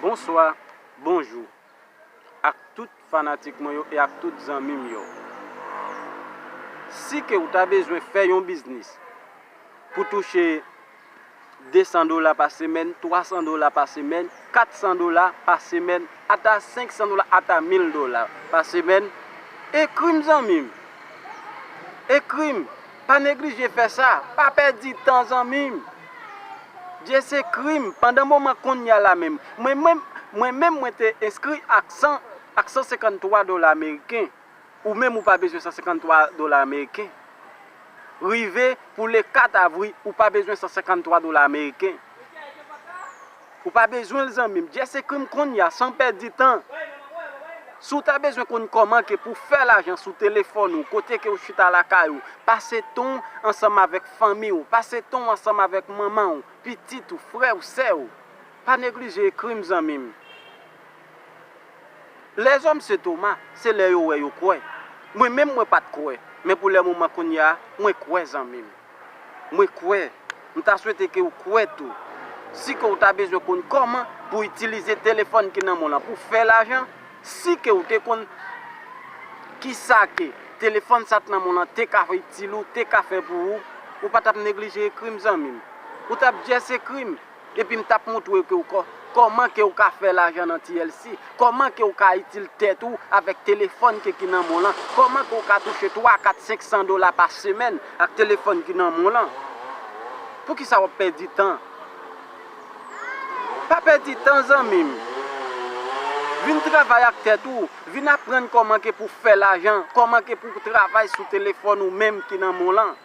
Bonswa, bonjou ak tout fanatik mwen yo e ak tout zanmi m yo. Si ke ou ta bezwen fè yon biznis pou touche 200 dola pa semèn, 300 dola pa semèn, 400 dola pa semèn, ata 500 dola, ata 1000 dola pa semèn, ekri m zanmi m. Ekri m Pa neglije fè sa, pa pèdi tan zanmi m. Dye se krim, pandan moman konnya la menm. Mwen menm, mwen menm mwen te enskri ak 100, ak 153 dola ameriken. Ou menm ou pa bezwen 153 dola ameriken. Rive pou le 4 avri ou pa bezwen 153 dola ameriken. Ou pa bezwen l zanmim, just ekri m konnya san pèdi tan. Si w ta bezwen konn kòman ke pou fè lajan sou telefòn ou kote ke w chita lakay ou, pase tan w ansanm avèk fanmi w, pase tan w ansanm avèk manman w, pitit ou, frè w, sè w, pa neglije ekri m zanmim. Lèzòm se Toma, se lè yo wè yo kwè. Mwen menm mwen pat kwè, men pou lè moman kounya mwen kwè zanmim. Mwen kwè, m ta swete ke ou kwè tou. Si ke ou ta bezwen konn kòman pou itilize telefòn ki nan men w lan pou fè lajan, si ke ou te konn kisa ke telefòn sa k nan men w lan te ka itil ou, te ka fè pou ou, ou pa tap neglije ekrim zanmim. Ou tap just ekrim. Epi m tap montre ke w Koman ke w ka fè lajan nan TLC, Koman ke w ka itil tèt ou avèk telefòn ke ki nan men w lan, Koman ke w ka touche 3, 4, 500 dola pa semèn ak telefòn ki nan men w lan. Poukisa wap pèdi tan? Pa pèdi tan zanmi m. Vin travay ak tèt ou, vin aprann koman ke pou fè lajan, koman ke pou travay sou telefòn ou menm ki nan men w lan.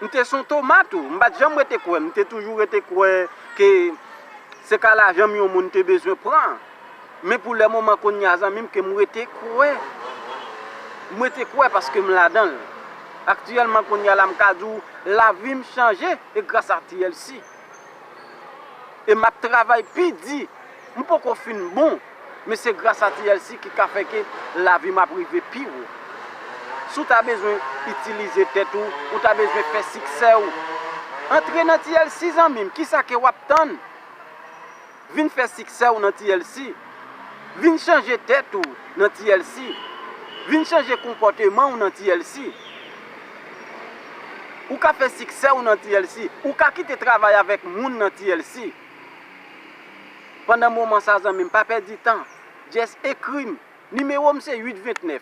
M te son toma tou. M pat janm rete kwè. M te toujou rete kwè ke se ka lajan m yon moun te bezwen pran. Men pou le moman kounye a zanmi m ke m rete kwè. M rete kwè paske m ladan l. Aktyèlman kounye a la m ka di w lavi m chanje e gras a TLC. e map travay pi di m poko fin bon men se gras a TLC ki ka fè ke lavi m ap rive pi wo si w ta bezwen itilize tèt ou ou ta bezwen fè siksè w antre nan TLC zanmi m kisa ke wap tann. Vin fè siksè w nan TLC. Vin chanje tèt ou nan TLC. Vin chanje konpòteman w nan TLC. Ou ka fè siksè w nan TLC. Ou ka kite travay avèk moun nan TLC. Pandan moman sa zanmi m pa pèdi tan. Just ekri m. Nimewo m se 8 29.